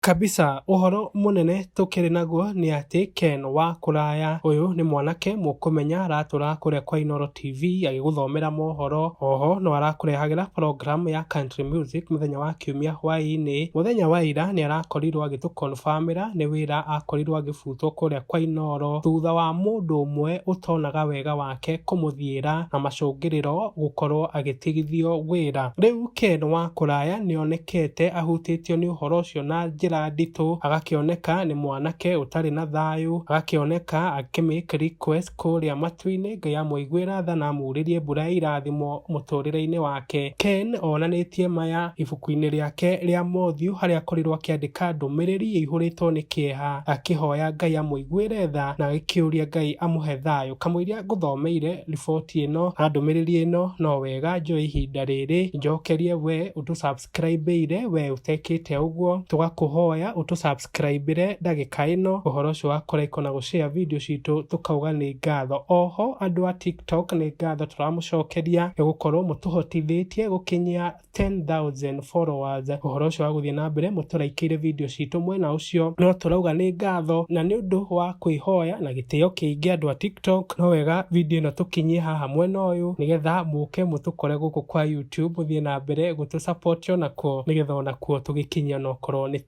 Kabisa, ũhoro mũnene tũkĩrĩ naguo nĩ atĩ Ken wa kũraya ũyũ nĩ mwanake mũkũmenya aratũra kũrĩa kwa Inoro TV agĩgũthomera mohoro. Oho no arakũrehagĩra program ya country music mũthenya wa kiumia hwaĩ-inĩ. Mũthenya wa ira nĩ arakorirwo agĩtũ confirm ĩra nĩ wĩra akorirwo agĩbutwo kũrĩa kwa Inoro thutha wa mũndũ ũmwe ũtonaga wega wake. ake kũmũthiĩra na macũngĩrĩro gũkorwo agĩtigithio wĩra. Rĩu Ken wa kũraya nĩonekete ahutĩtio nĩ ũhoro ũcio na njĩra nditũ, agakĩoneka nĩ mwanake ũtarĩ na thayũ, agakĩoneka akĩ make request kũrĩa matu-inĩ Ngai amũiguĩra tha na amurĩrie mbura ya irathimo mũtũrĩre-inĩ wake. Ken onanĩtie maya ibuku-inĩ rĩake rĩa Mothiũ harĩa akorirwo akĩandĩka ndũmĩrĩri ĩihũrĩtwo nĩ kĩeha akĩhoya Ngai amũiguĩre tha na agĩkĩũria Ngai amũhe thayũ. Kamũira ngũthomeire riboti ĩno na ndũmĩrĩri ĩno no wega njoe ihinda rĩrĩ njokerie we ũtũ subscribe ire we ũtekĩte ũguo tũgakũhoya ũtũ subscribe ire ndagĩka ĩno ũhoro ũcio wa kũraiko na gũshare video citũ tũkauga nĩ ngatho oho andũ a tiktok nĩ ngatho tũramũcokeria nĩ gũkorwo mũtũhotithĩtie gũkinyia 10,000 followers ũhoro ũcio wa gũthiĩ na mbere mũtũraikĩire video citũ mwena ũcio no tũrauga nĩ ngatho na nĩ ũndũ wa kwĩhoya na gĩtĩo kĩingĩ andũ a tiktok no wega video ĩno tũkinyie haha mwena ũyũ nĩgetha mũke mũtũkore gũkũ kwa youtube mũthiĩ na mbere gũtũ support onakuo nĩgetha onakuo tũgĩkinyia onokorwo nĩ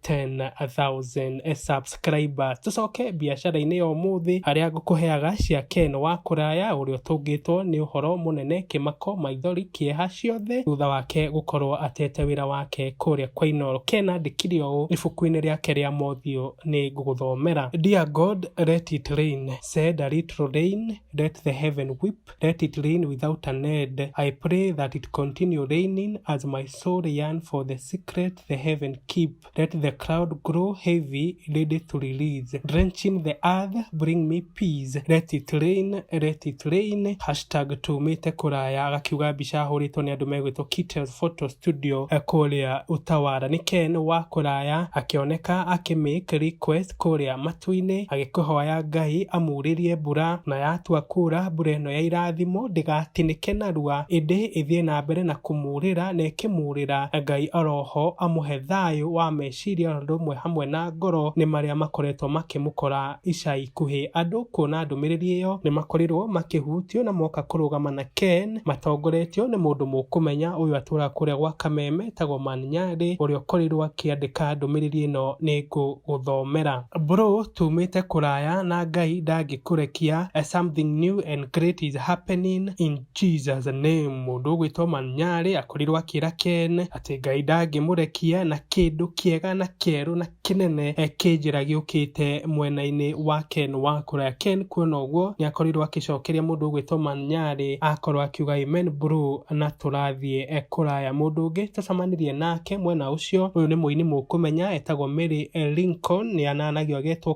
10,000 subs subscribers tũcoke biacara-inĩ ya ũmũthĩ harĩa ngũkũheaga cia ken wa kũraya ũrĩa ũtũngĩtwo nĩ ũhoro mũnene kĩmako maithori kĩeha ciothe thutha wake gũkorwo atete wĩra wake kũrĩa kwa inoro ken andĩkire ũũ ibuku-inĩ rĩake rĩa mothiũ nĩ ngũgũthomera dear god let it rain said a little rain let the heaven weep let it rain without an end i pray that it continue raining as my soul yearn for the secret the heaven keep Let the cloud grow heavy, let it release. Drenching the earth, bring me peace. Let it rain, let it rain. Hashtag tumĩte kũraya agakiuga mbica ahũrĩtwo nĩ andũ megwĩtwo Kitel Photo Studio eh, kũrĩa Utawara. Nĩ Ken wa kũraya akĩoneka akĩmake request kũrĩa matu-inĩ agĩkũhoya Ngai amurĩrie mbura na yatua kura mbura ĩno ya irathimo ndĩgatinĩke narua ĩndĩ ĩthiĩ na mbere na kũmu kũmũhũrĩra na ĩkĩmũũrĩra. Ngai oroho amũhe thayũ wa meciria oro ũndũ ũmwe hamwe na ngoro nĩ marĩa makoretwo makĩmũkora ica ikuhĩ. Andũ kuona ndũmĩrĩri ĩyo nĩmakorirwo makĩhutio na moka kũrũgama na Ken matongoretio nĩ mũndũ mũkũmenya ũyũ atũraga kũrĩa gwa Kameme etagwo Man Nyarĩ ũrĩa ũkorirwo akĩandĩka ndũmĩrĩri ĩno nĩngũgũthomera. Bro tumĩte kũraya na Ngai ndangĩkũrekia, something new and great is happening in. Jesus nĩ mũndũ ũgwĩtwo Manyarĩ akorirwo akĩra Ken atĩ Ngai ndangĩmũrekia na kĩndũ kĩega na kĩerũ na kĩnene eh, kĩnjĩra gĩũkĩte mwena-inĩ wa Ken wa kũraya. Ken kuona ũguo nĩ akorirwo akĩcokeria mũndũ ũgwĩtwo Manyarĩ akorwo akiuga amen bro na tũrathiĩ eh, kũraya. Mũndũ ũngĩ tũcamanirie nake mwena ũcio ũyũ nĩ mũini mũkũmenya etagwo Mary eh, Lincoln nĩ ananagio agetwo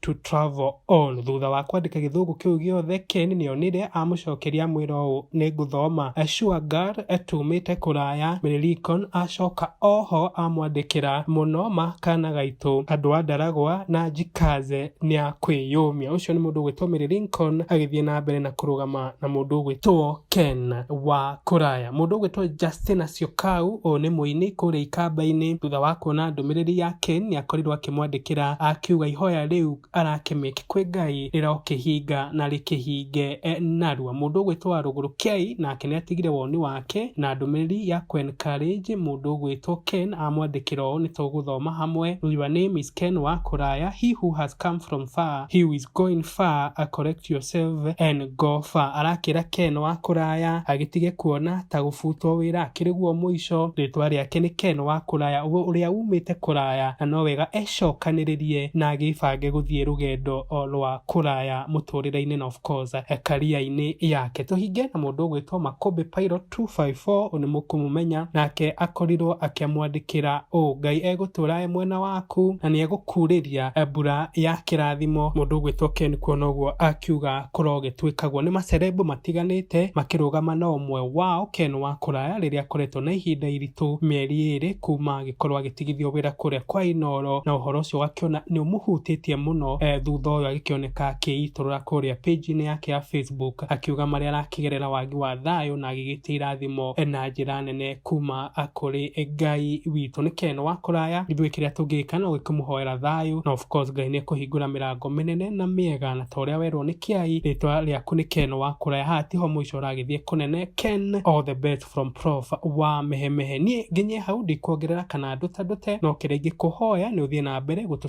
to travel on thutha wa kwandĩka gĩthũngũ kĩu gĩothe ken nĩonire amũcokeria mwĩra ũũ nĩ ngũthoma ashua gar tumĩte kũraya mĩrĩrikon acoka oho amwandĩkĩra mũno makana gaitũ andũ a ndaragwa na njikaze nĩ a kwĩyũmia ũcio nĩ mũndũ ũgwĩtwo mĩrĩrinkon agĩthiĩ na mbere na kũrũgama na mũndũ ũgwĩtwo ken wa kũraya mũndũ ũgwĩtwo justina ciokau ũũ nĩ mũini kũrĩa ikamba-inĩ thutha wa kuona ndũmĩrĩri ya ken nĩakorirwo akĩ- Akĩmwandĩkĩra akiuga ihoya rĩu arakĩmake kwĩ Ngai rĩrokĩhinga na rĩkĩhinge e, narua. Mũndũ ũgwĩtwo Rũgũrũ Kei nake nĩatigire woni wake na ndũmĩrĩri ya Quen Courage. Mũndũ ũgwĩtwo Ken amwandĩkĩra ũũ, Nĩtũgũthoma hamwe. Your name is Ken wa kũraya, he who has come from far, he who is going far, correct yourself and Ngoba arakĩra Ken wa kũraya agĩtige kuona ta gũbutwo wĩra akĩrĩ guo mũico. Rĩtwa rĩake nĩ Ken wa kũraya ũrĩa wumĩte kũraya na no wega ecokanĩrĩrie na agĩbange gũthiĩ rũgendo rwa kũraya mũtũrĩre-inĩ na of course career-inĩ yake. Tũhinge na mũndũ ũgwĩtwo Makũmbĩ Pilot. 254 ũyũ nĩmũkũmũmenya nake akorirwo akĩamwandĩkĩra ũũ ngai egũtũra e mwena waku na nĩegũkurĩria mbura ya kĩrathimo mũndũ ũgwĩtwo ken kuona ũguo akiuga kũrogĩtuĩkagwo nĩ macerebu matiganĩte makĩrũgama na ũmwe wao ken wa kũraya rĩrĩa akoretwo na ihinda iritũ mĩeri ĩrĩ kuma agĩkorwo agĩtigithio wĩra kũrĩa kwa inoro na ũhoro ũcio wakiona nĩũmũhutĩtie mũno eh, thutha ũyũ agĩkĩoneka akĩitũrũra kũrĩa page-inĩ yake ya facebook Facebook akiuga marĩa arakĩgerera wagi wa thayũ na agĩgĩtia irathimo na njĩra nene kuma kũrĩ Ngai witũ. Nĩ Ken wa kũraya, ithuĩ kĩrĩa tũngĩka no gĩkũmũhoera thayũ na of course Ngai nĩ ekũhingũra mĩrango mĩnene na mĩega na ta ũrĩa werwo nĩ Kiai, rĩtwa rĩaku nĩ Ken wa kũraya, haha tiho mũico ũragĩthiĩ kũnene. Ken, all the best from Prof wa Mehemehe. Niĩ nginye hau ndikuongerera kana ndũtandũte, no kĩrĩa ingĩkũhoya nĩ ũthiĩ na mbere gũtũ